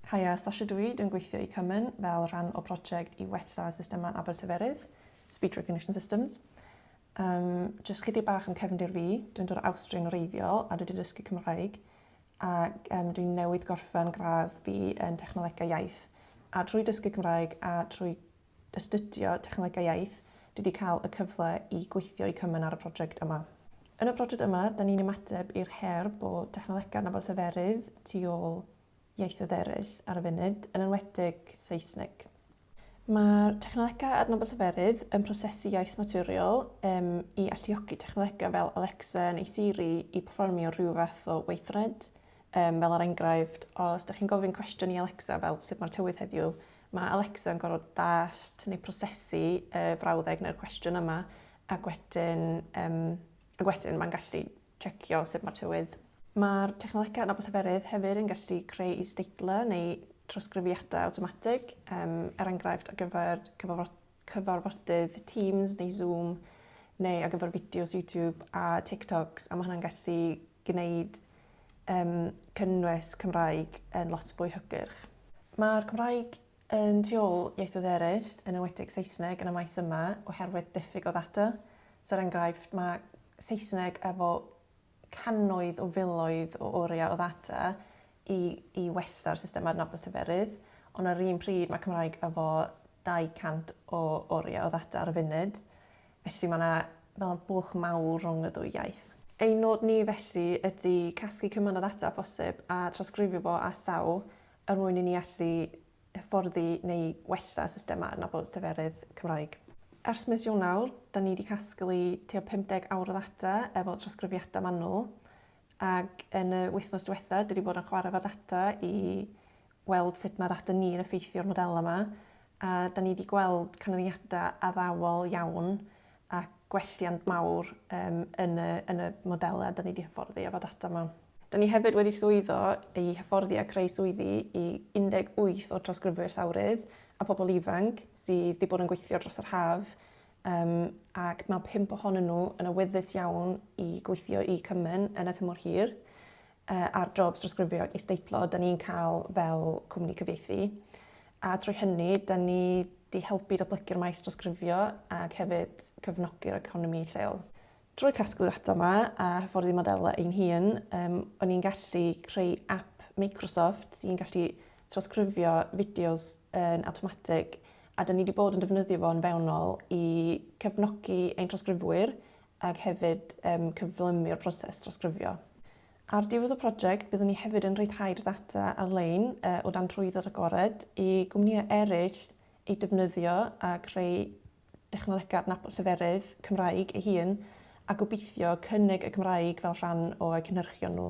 Kaya Sashiduid yn gweithio i Cymen fel rhan o broject i wella systemau Abertyferydd, Speech Recognition Systems. Um, just chydig bach am cefndir fi, dwi'n dod o Awstria yn wreiddiol a dwi wedi dysgu Cymraeg ac um, dwi'n newydd gorffen gradd fi yn technolegau iaith. A trwy dysgu Cymraeg a trwy astudio technolegau iaith, dwi wedi cael y cyfle i gweithio i Cymen ar y prosiect yma. Yn y prosiect yma, da ni'n ymateb i'r her bod technolegau nafol lleferydd tu ôl ieithoedd eraill ar y funud, yn enwedig Saesneg. Mae'r technolegau adnabod lleferydd yn prosesu iaith naturiol um, i alluogi technolegau fel Alexa neu Siri i performio rhyw fath o weithred. Um, fel ar er enghraifft, os ydych chi'n gofyn cwestiwn i Alexa fel sut mae'r tywydd heddiw, mae Alexa yn gorfod dallt neu prosesu y uh, frawddeg neu'r cwestiwn yma ac wedyn, um, ac wedyn mae'n gallu checio sut mae'r tywydd. Mae'r technolegau yn abyseferydd hefyd yn gallu creu is-deitlau neu drawsgrifiadau awtomatig, um, er enghraifft ar gyfer cyfarfodydd Teams neu Zoom, neu ar gyfer fideos YouTube a TikToks, a mae hwnna'n gallu gwneud um, cynnwys Cymraeg yn lot fwy hygyrch. Mae'r Cymraeg Yn tu ôl ieithoedd eraill, yn enwedig Saesneg yn y maes yma, oherwydd diffyg o ddata. So, er enghraifft, mae Saesneg efo cannoedd o filoedd o oriau o ddata i, i wella'r system adnabod lleferydd, ond ar yr un pryd mae Cymraeg efo 200 o oriau o ddata ar y funud, felly mae yna fel bwlch mawr rhwng y ddwy iaith. Ein nod ni felly ydy casglu cymaint o ddata â phosib a trawsgrifio fo â llaw er mwyn i ni allu hyfforddi neu wella systemau adnabod lleferydd Cymraeg. Ers mis Ionawr, da ni wedi casglu tua 50 awr o ddata efo trawsgrifiadau manwl, ac yn y wythnos diwetha, dwi wedi bod yn chwarae efo data i weld sut mae data ni'n effeithio'r modelau yma, a da ni wedi gweld canlyniadau addawol iawn a gwelliant mawr yym yn y yn y modelau 'da ni 'di hyfforddi efo data 'ma. Da ni hefyd wedi llwyddo i hyfforddi a creu swyddi i 18 o'r trawsgrifwyr llawrydd a pobl ifanc sydd 'di bod yn gweithio dros yr haf yym ac mae pump ohonyn nhw yn awyddus iawn i gweithio i Cymen yn y tymor hir. uh, ar jobs drosgrifio ac isdeitlo, da ni'n cael fel cwmni cyfieithu. A trwy hynny, da ni di helpu datblygu'r maes drosgrifio ac hefyd cyfnogi'r economi lleol. Drwy casglu data yma a hyfforddi modelau ein hun, um, o'n i'n gallu creu app Microsoft sy'n gallu trosgrifio fideos yn automatic a da ni wedi bod yn defnyddio fo'n fewnol i cefnogi ein trosgrifwyr ac hefyd cyflymu'r proses drawsgrifio. Ar ddiwedd y prosiect, byddwn ni hefyd yn rhyddhau'r ddata ar-lein o dan Trwydd yr Agored i gwmnïau eraill ei defnyddio a chreu technolegau adnabod lleferydd Cymraeg ei hun, a gobeithio cynnig y Gymraeg fel rhan o'u cynhyrchion nhw.